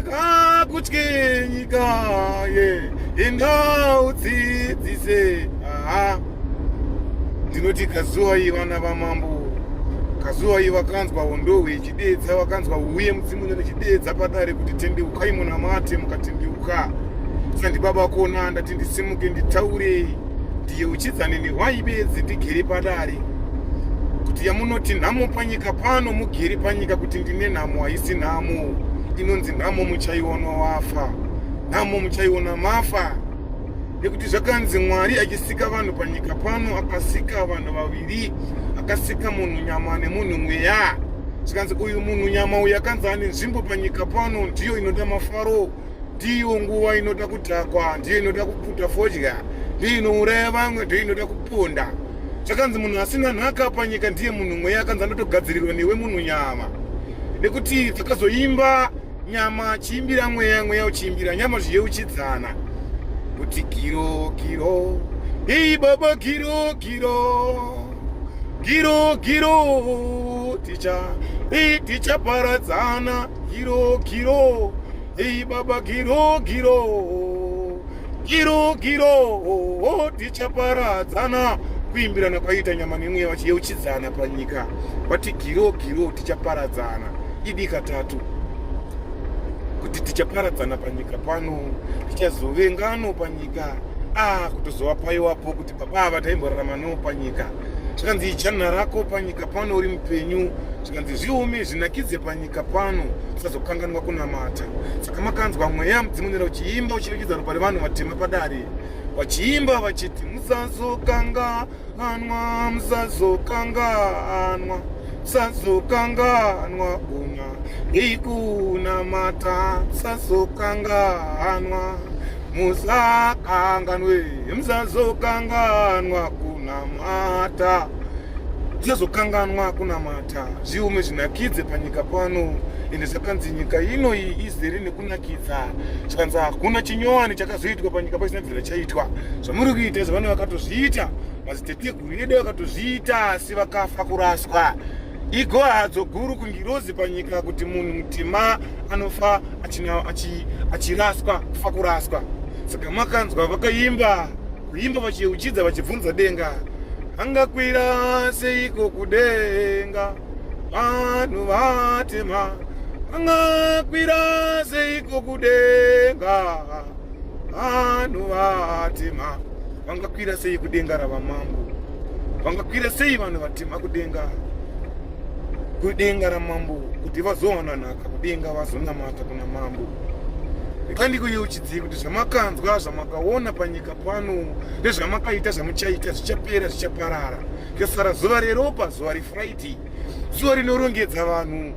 ngakutye nyika ye ingaudzidzise aha ndinoti kazuwai vana vamambo kazuwai vakanzwa hondohwe ichidedza vakanzwa uye mudzimu nyana ichidedza padare kuti tendeukai munamate mukatendeuka sandibaba kona ndati ndisimuke nditaurei yeuchidza nini why bedzi ndigere padare kuti yamunoti nhamo panyika pano mugere panyika kuti ndine nhamo haisi nhamo inonzi nhamo muchaiona wafa nhamo muchaiona mafa nekuti zvakanzi mwari achisika vanhu panyika pano akasika vanhu vaviri akasika munhu nyama nemunhu mweya zvikanzi uyu munhu nyama uyu akanzi ane nzvimbo panyika pano ndiyo inoda mafaro ndiyo nguva inoda kudhakwa ndiyo inoda kuputa fodya ndiyo inouraya vamwe ndiyo inoda kuponda zvakanzi munhu asina nhaka panyika ndiye munhu mweya akanzi anotogadzirirwa newe munhu nyama nekuti dzakazoimba nyama chiimbira mweya mweya uchiimbira nyama zviye uchidzana kuti giro giro hii baba giro giro giro giro ticha hii tichaparadzana Giro giro, hey baba giro giro, giro giro, oh, tichaparadzana kuimbirana kwaiita nyama nemweya vachiyeuchidzana panyika vati giro giro tichaparadzana idi katatu kuti tichaparadzana panyika pano tichazovengano panyika ah kutozovapaiwapo kuti Baba ava taimborarama no panyika zvikanzi ijanna rako panyika pano uri mupenyu zvikanzi zviume zvinakidze panyika pano usazokanganwa kunamata saka makanzwa mweya mudzimonera uchiimba uchivikidza ropa revanhu vatema padare vachiimba vachiti musazokanganwa musazokanganwa musazokanganwa kuna ikunamata musazokanganwa musakanganwe musazokanganwa kunamata tisazokanganwa kunamata zviume zvinakidze panyika pano ende zvakanzi nyika ino iyi izere nekunakidza zvikanzi hakuna chinyowani chakazoitwa panyika paisina bvira chaitwa zvamuri kuita izvo vane vakatozviita maziteteguru edu vakatozviita asi vakafa kuraswa igohadzo guru kungirozi panyika kuti munhu mutima anofa achiraswa kufa kuraswa saka makanzwa vakaimba kuimba vachiyeuchidza vachibvunza denga angakwira seiko kudenga vanhu vatema angakwira seiko kudenga vanhu vatema vangakwira sei kudenga ravamambo vangakwira sei vanhu vatema kudenga kudenga ramambo kuti vazowana nhaka kudenga vazonamata kuna mambo ikandikuyeuchidzii kuti zvamakanzwa zvamakaona panyika pano nezvamakaita zvamuchaita zvichapera zvichaparara kesara zuva reropa zuva refriday zuva rinorongedza vanhu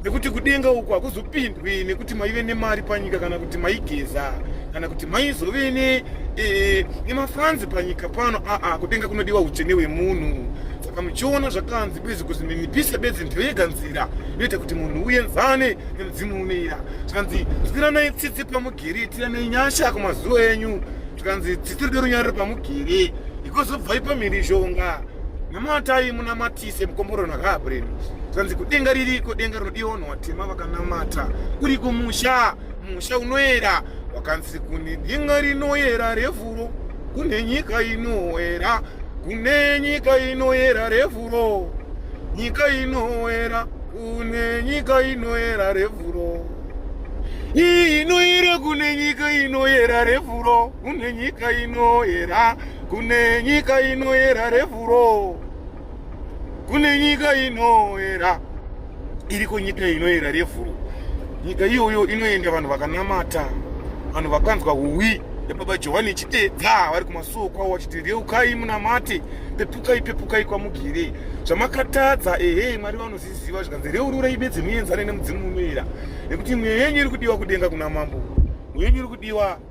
nekuti kudenga uku hakuzopindwi nekuti maive nemari panyika kana kuti maigeza kana kuti maizove ne e, nemafanzi panyika pano aa kudenga kunodiwa utsvene wemunhu saka muchiona zvakanzi bezi kuzi minipisa bedzi ndiyo yega nzira inoita kuti munhu uenzane nemudzimu uneira zvikanzi zwiranai tsitsi pamugere tiranai nyasha kumazuva enyu zvikanzi tsitsi rido runyariro pamugere ikozobvai pamhirizhonga namatai munamatise mukomborero nakaabhureni zvanzi kudenga ririko denga rinodiwa vanhu vatema vakanamata uri kumusha musha unoera wakanzi kune denga rinoera revhuro kune nyika inoera kune nyika inoera revhuro nyika inoera kune nyika inoera revhuro inoera kune nyika inoera revhuro kune nyika inoyera kune nyika inoyera revhuro kune nyika inoyera iriko nyika inoyera revhuro nyika iyoyo inoenda vanhu vakanamata vanhu vakanzwa uwi nebaba johani chitedza vari kumasuo kwavo vachiti reukai munamate pepukai pepukai kwamugirei zvamakatadza ehe mwari vanozviziva zvikanzi reururai bedzi muenzane nemudzimu unoyera nekuti mweya yenyu iri kudiwa kudenga kuna mambo mweya yenyu iri kudiwa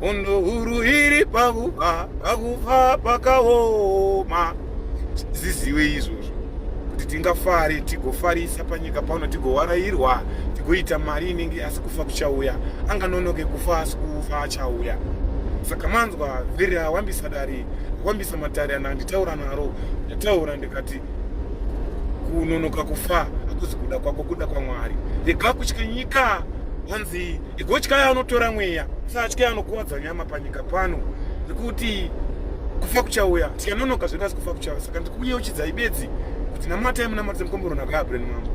Hondo huru iri pakufa, pakufa pakaoma. Ziziwe izvozvo kuti tingafare tigofarisa panyika pano tigowarayirwa tigoita mari inenge asi kufa kuchauya anganonoke kufa asi kufa achauya saka manzwa vhiri awambisa dare awambisa matare ana anditaura naro ndataura ndikati kunonoka kufa akuzi kuda kwako kuda kwamwari rega kutya nyika hanzi Igotyai anotora mweya, usatyai anokuwadza nyama panyika pano, nekuti kufa kuchauya. Tikanonoka zvedu asi kufa kuchauya, saka ndikuyeuchidzai bedzi kuti namatai munamatise mukombero nhaka yabreni mambo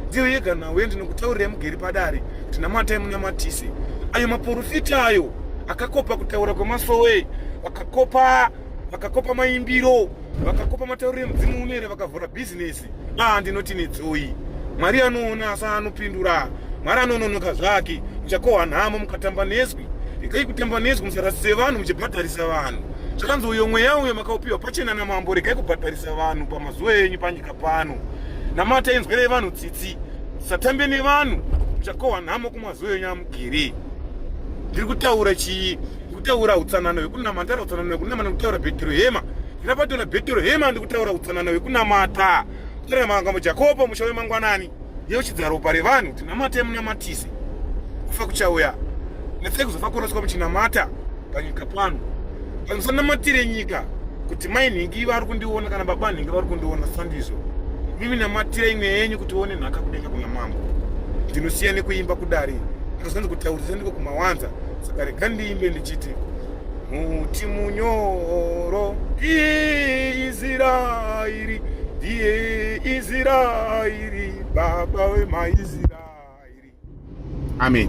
ndiyo yega nhau yandinokutaurirai mugeri padare kuti namatai munamatise ayo maporofita ayo akakopa kutaura kwemasowe vakakopa vakakopa maimbiro vakakopa matauriro emudzimu unere vakavhura bhizinesi mukadzi ah ndinoti netsoyi mwari anoona asi anopindura mwari anononoka zvake muchakohwa nhamo mukatamba nezwi regai kutamba nezwi musarasise vanhu muchibhadharisa vanhu zvakanzi uyo mweya uyo makaupiwa pachena namambo regai kubhadharisa vanhu pamazuva enyu panyika pano namata inzwerei vanhu tsitsi satambe nevanhu muchakohwa nhamo kumazuva enyu amugiri ndiri kutaura chii kutaura utsanana hwekunama nditaura utsanana hwekunama nekutaura bhedhiro hema Ndapatwa na Bhetero hema ndikutaura utsanana wekunamata. Tira manga mu Jakobo mushawe mangwanani. Yeo chidzaro pare vanhu tinamate munamatise. Kufa kuchauya. Netse kuzofa koroswa muchinamata panyika pano. Vanhu sanamatire nyika kuti mai nhingi vari kundiona kana baba nhingi vari kundiona sandizvo. Mimi namatira imwe yenyu kuti uone nhaka kudenga kuna mambo. Ndinosiya nekuimba kudari. Ndikazonzi kutaurisa ndiko kumawanza. Saka rega ndiimbe ndichiti muti munyoro ndiye israeri ndiye israeri baba vemaisraeri amen